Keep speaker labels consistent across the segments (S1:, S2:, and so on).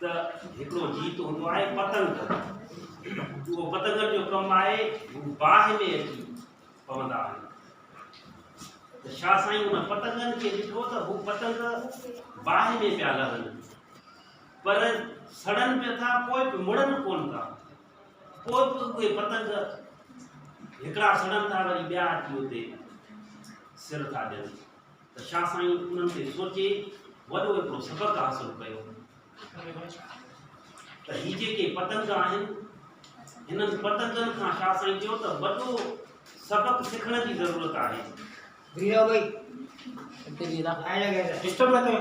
S1: ته هڪڙو جيت هوندو آهي پتنگ جو اهو پتنگن جو ڪم آهي هو باهه ۾ اچي پوندا آهن ته شاهه سائين ان پتنگن کي ڏٺو ته هو پتنگ باهه ۾ پيا لهن پر سڙن پيا ٿا پوء به مڙن ڪون ٿا پوء به اهي پتنگ هڪڙا سڙن ٿا وري ٻيا اچي اتي سر ٿا ڏين ته شاهه سائين انهن تي سوچي وڏو هڪڙو سبق حاصل ڪيو ته هي جيڪي پتنگ آهن هنن پتنگن کان شاهه سائين چيو ته وڏو سبق سکڻ جي ضرورت آهي ڊسٽرب نه ڪيو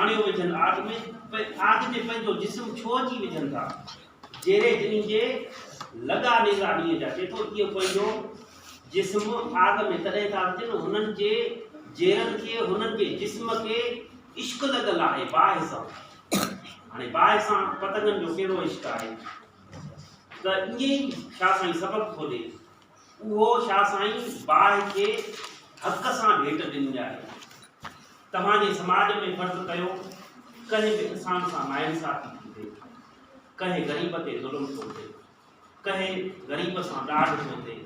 S1: آڻيو وجهن آگ ۾، پوء آگ تي پنهنجو جسم ڇو اچي وجهن ٿا؟ جيري جنين جي لڳا نيزا ڏينهن جا چئي ٿو، اهو پنهنجو جسم آگ ۾ تڏهن ٿا وجهن، هنن جي جيرن کي، هنن جي جسم کي عشق لڳل آهي باهه سان. هاڻي باهه سان پتنگن جو ڪهڙو عشق آهي؟ ته ائين ئي شاهه سائين سبق ٿو ڏي اهو شاهه سائين باهه کي حق سان ڀيٽ ڏني آهي. توهان جي سماج ۾ فرض ڪيو ڪنهن به انسان سان ناانصافي ٿي ٿئي، ڪنهن غريب تي ظلم ٿو ٿئي، ڪنهن غريب سان ڏاڍ ٿو ٿئي،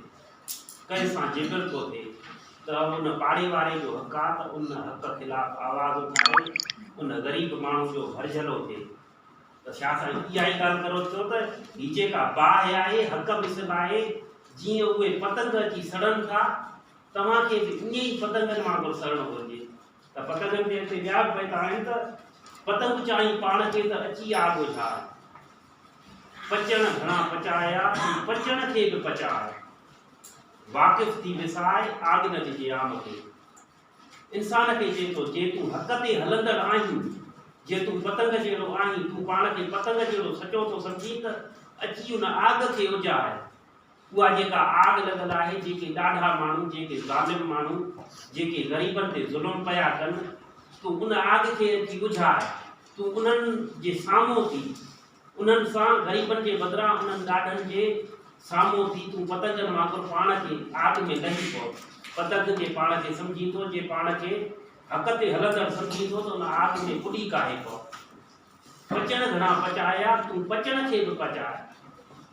S1: ڪنهن سان جبر ٿو ٿئي ته ان پاڙي واري جو حق آهي ته ان حق خلاف آواز اٿاري ان غريب ماڻهو جو ڀرجهلو ٿئي. ته شاهه سائين اها ئي ڳالهه ڪرو ٿيو ته هي جيڪا باهه آهي حق به سڀ آهي، جيئن اهي پتنگ اچي سڙن ٿا، توهان کي به ائين ئي پتنگن وانگر سڙڻو گهرجي ته پتنگن تي هتي ٻيا به بيت آهن ته، پتنگ چاهين پاڻ کي ته اچي آ ڳوجهاء، پچڻ گهڻا پچايا ۽ پچڻ کي به پچاء، واقف ٿي وساء، آڳ نه ڏجي عام کي. انسان کي چئي ٿو، جي تون حق تي هلندڙ آهين، جي تون پتنگ جهڙو آهين، تون پاڻ کي پتنگ جهڙو سچو ٿو سمجهين ته اچي ان آگ کي اجهاء. اها جيڪا آگ لڳل آهي، جيڪي ڏاڍا ماڻهو، جيڪي ظالم ماڻهو، جيڪي غريبن تي ظلم پيا ڪن، تون ان آگ کي اچي اجهاء. تون انهن جي سامهون ٿي انهن سان غريبن جي بدران انهن ڏاڍن جي سامهون ٿي تون پتنگن وانگر پاڻ کي آگ ۾ لهي پو. پتنگ جي پاڻ کي سمجهين ٿو جي پاڻ کي حق تي هلندڙ سمجهين ٿو ته ان آگ ۾ ڪڏي ڪاهي پو. پچڻ گهڻا پچايا تون پچڻ کي به پچاء.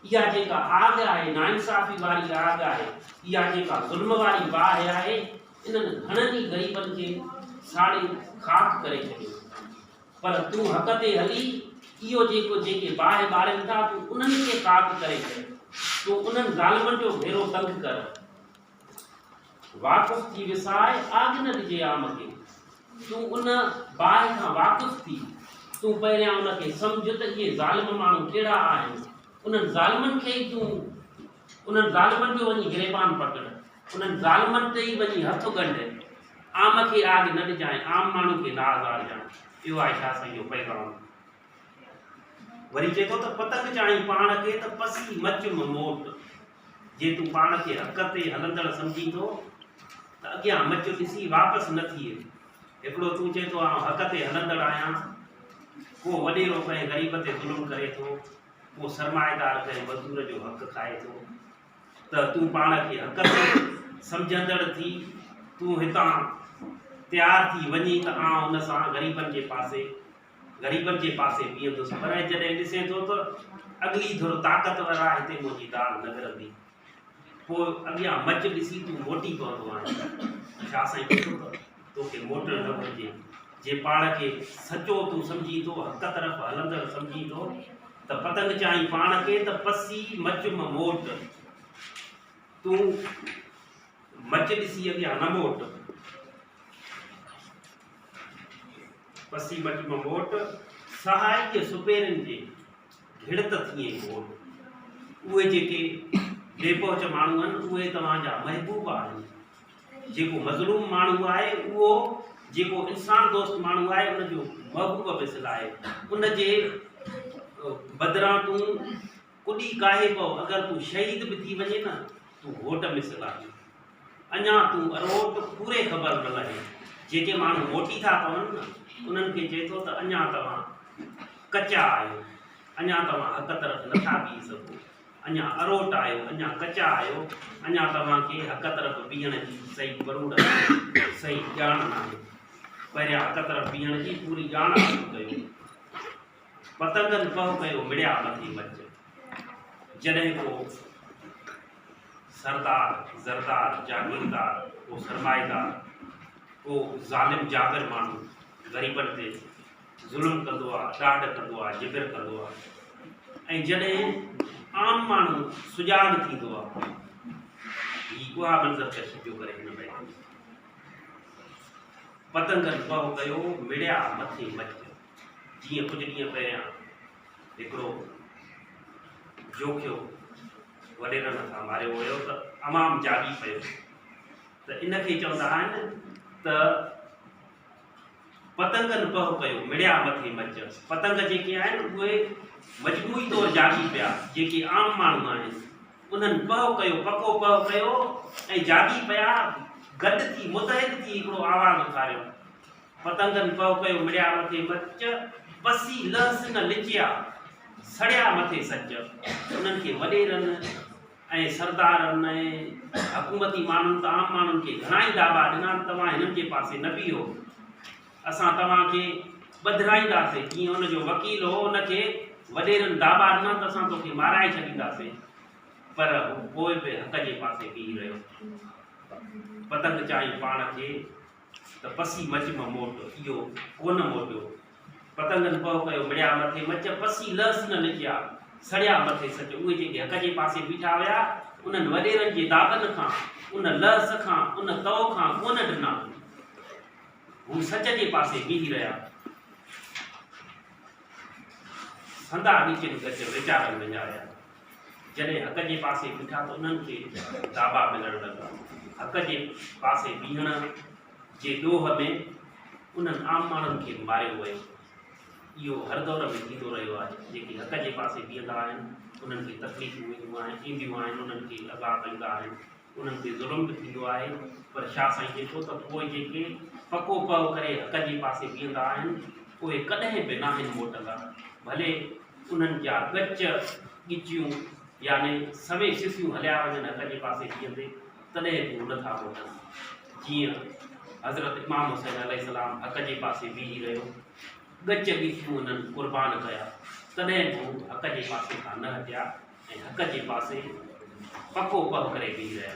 S1: اها جيڪا آگ آهي ناانصافي واري آگ آهي اها جيڪا ظلم واري باهه آهي انهن گهڻن ئي غريبن کي ساڙي خاڪ ڪري ڇڏيو. پر تون حق تي هلي، اهو جيڪو جيڪي باهه ٻارين ٿا تون انهن کي پاڪ ڪري ڇڏ، تون انهن ظالمن جو ڀيرو تنگ ڪر. واقف ٿي وسائي، آگ نه ڏجي عام کي. تون ان باهه کان واقف ٿي، تون پهريان ان کي سمجهه ته اهي ظالم ماڻهو ڪهڙا آهن، انهن ظالمن کي ئي تون انهن ظالمن جو وڃي گريبان پڪڙ، انهن ظالمن تي ئي وڃي هٿ ڳنڍ. عام کي آج نه ڏجانء، عام ماڻهو کي نه آزارجانء، اهو آهي شاهه سائين جو پيغام. وري چئي ٿو ته پتنگ چاهين پاڻ کي ته پسي مچ م موٽ، جي تون پاڻ کي حق تي هلندڙ سمجهين ٿو ته اڳيان مچ ڏسي واپس نه ٿيء. هڪڙو تون چئين ٿو آئون حق تي هلندڙ آهيان، ڪو وڏيرو ڪنهن غريب تي ظلم ڪري ٿو، ڪو سرمائيدار ڪنهن مزدور جو حق کائي ٿو، ته تون پاڻ کي حقدار سمجهندڙ ٿي تون هتان تيار ٿي وڃين ته آئون ان سان غريبن جي پاسي غريبن جي پاسي بيهندس پر جڏهن ڏسين ٿو ته اڳلي ڌر طاقتور آهي هتي منهنجي داد نه ڪرندي پوء اڳيان مچ ڏسي تون موٽي پوندو آهين شاهه سائين چيو ته توکي موٽڻ نه گهرجي. جي پاڻ کي سچو تون سمجهين ٿو، حق طرف هلندڙ سمجهين ٿو ته پتنگ چائين پاڻ کي ته پسي مچ م موٽ. تون مچ ڏسي اڳيان نه موٽ. پسي مچ م موٽ، سهائي جي سپيرن جي گهڙت ٿيين گهوٽ. اهي جيڪي بي پهچ ماڻهو آهن، اهي توهان جا محبوب آهن. جيڪو مظلوم ماڻهو آهي اهو جيڪو انسان دوست ماڻهو آهي ان جو محبوب مثل آهي ان جي بدران تون ڪڏي ڪاهي پو اگر تون شهيد به ٿي وڃي نه تون هوٽ مثل آهي اڃا تون اروٽ پوري خبر نه لهي جيڪي ماڻهو موٽي ٿا پون نه انهن کي چئي ٿو ته اڃا توهان ڪچا آهيو اڃا توهان حق طرف نٿا بيهي سگهو اڃا اروٽ آهيو، اڃا ڪچا آهيو، اڃا توهان کي حق طرف بيهڻ جي صحيح پروڙ ناهي، صحيح ڄاڻ ناهي. پهريان حق طرف بيهڻ جي پوري ڄاڻ حاصل ڪيو. پتنگن پهه ڪيو مڙيا مٿي مچ. جڏهن ڪو سردار، زردار، جاگيردار، ڪو سرمائيدار، ڪو ظالم جابر ماڻهو غريبن تي، ظلم ڪندو آ، ڏاڍ ڪندو آ، جبر ڪندو آ ۽ جڏهن عام ماڻهو سجاڳ ٿيندو آ، هي اها منظر ڪشي پيو ڪري هن بيت ۾. پتنگن پهه ڪيو، مڙيا مٿي مچ ڪيو. جيئن ڪجهه ڏينهن پهريان هڪڙو جوکيو وڏيرن هٿان ماريو ويو ته عوام جاڳي پيو ته ان کي چوندا آهن ته پتنگن پهه ڪيو، مڙيا مٿي مچ. پتنگ جيڪي آهن اهي مجموعي طور جاڳي پيا، جيڪي عام ماڻهو آهن انهن پهه ڪيو، پڪو پهه ڪيو ۽ جاڳي پيا گڏ ٿي متحد ٿي هڪڙو آواز اٿاريو، پتنگن پهه ڪيو، مڙيا مٿي مچ، پسي لهه سنگ لچيا، سڙيا مٿي سچ. انهن کي وڏيرن. ۽ سردارن ۽ حڪومتي ماڻهن ته عام ماڻهن کي گهڻائي داٻا ڏنا ته توهان هنن جي پاسي نه بيهو، اسان توهان کي ٻڌرائينداسين. جيئن ان جو وڪيل هو، ان کي وڏيرن داٻا ڏنا ته اسان توکي مارائي ڇڏينداسين، پر هو پوء به حق جي پاسي بيهي رهيو. پتنگ چيائين پاڻ کي ته پسي مچ م موٽ، اهو ڪونه موٽيو. پتنگن پهه ڪيو مڙيا مٿي مچ، پسي لهس نه لکيا، سڙيا مٿي سچ. اهي جيڪي حق جي پاسي بيٺا هيا، انهن وڏيرن جي دادن کان، ان لهس کان، ان تئو کان ڪونه ڊنا. هو سچ جي پاسي بيهي رهيا. سندا ڳچين ڳچ ويچارن وڃايا. جڏهن حق جي پاسي بيٺا ته انهن کي داٻا ملڻ لڳا. حق جي پاسي بيهڻ. جي ڏوهه ۾ انهن عام ماڻهن کي ماريو ويو. اهو هر دور ۾ ٿيندو رهيو آهي. جيڪي حق جي پاسي بيهندا آهن، انهن کي تڪليفون وينديون آهن، اينديون آهن، انهن کي عذاب ايندا آهن، انهن تي ظلم به ٿيندو آهي، پر شاهه سائين لکيو ته پوء جيڪي پڪو پهه ڪري حق جي پاسي بيهندا آهن، اهي ڪڏهن به ناهن موٽندا، ڀلي انهن جا ڳچ، ڳچيون يعني سوين سسيون هليا وڃن حق جي پاسي بيهندي. تڏهن به هو نه ٿا موٽن. جيئن حضرت امام حسين عليه السلام حق جي پاسي بيهي رهيو، ڳچ ڳچيون انهن قربان ڪيا، تڏهن به هو حق جي پاسي کان نه هٽيا ۽ حق جي پاسي پڪو پهه ڪري بيهي رهيا.